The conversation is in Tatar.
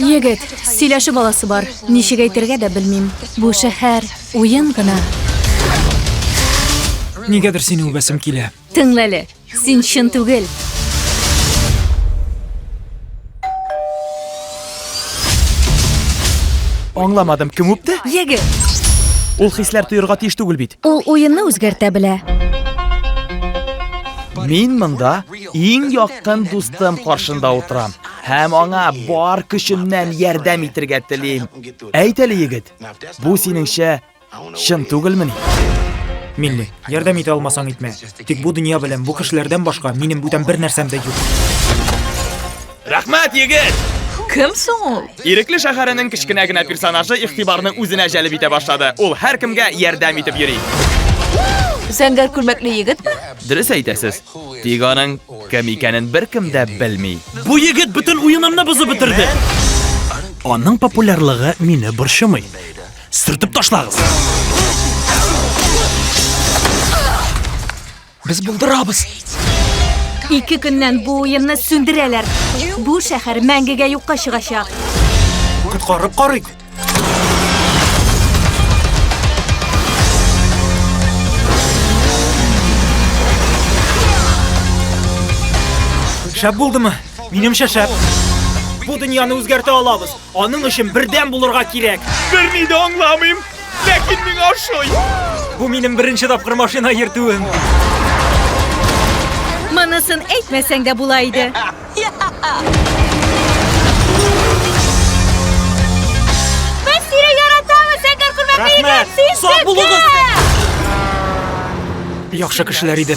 Егет, сөйләшү баласы бар. Ничек әйтергә дә белмим. Бу шәһәр уен гына. Нигәдер сине үбәсем килә. Тыңла әле. Син чын түгел. Аңламадым, кем үпте? Егет. Ул хисләр тоерга тиеш түгел бит. Ул уенны үзгәртә белә. Мин монда Иң якын дустым каршында утырам һәм аңа бар көчемнән ярдәм итергә телим. Әйт әле, егет, бу синеңчә чын түгелмени? Милли, ярдәм итә алмасаң итмә. Тик бу дөнья белән бу кешеләрдән башка минем бүтән бер нәрсәм дә юк. Рәхмәт, егет! Кем соң ул? Ирекле шәһәренең кечкенә генә персонажы игътибарны үзенә җәлеп итә башлады. Ул һәркемгә ярдәм итеп йөри. Зәңгәр күлмәкле егетме? Дөрес әйтәсез. Тик аның кем икәнен беркем дә белми. Бу егет бөтен уенымны бозып бетерде. Аның популярлыгы мине борчымый. Сүртеп ташлагыз. Без булдырабыз. Ике көннән бу уенны сүндерәләр. Бу шәһәр мәңгегә юкка чыгачак. Коткарып карыйк. Шәп булдымы? Минемчә шәп. Бу дөньяны үзгәртә алабыз. Аның өчен бердәм булырга кирәк. Берни дә аңламыйм, ләкин миңа ошый. Бу минем беренче тапкыр машина йөртүем. Монысын әйтмәсәң дә була иде. Без сине яратабыз, Сәкәр күрмәк Рәхмәт! Сак булыгыз! Яхшы кешеләр иде.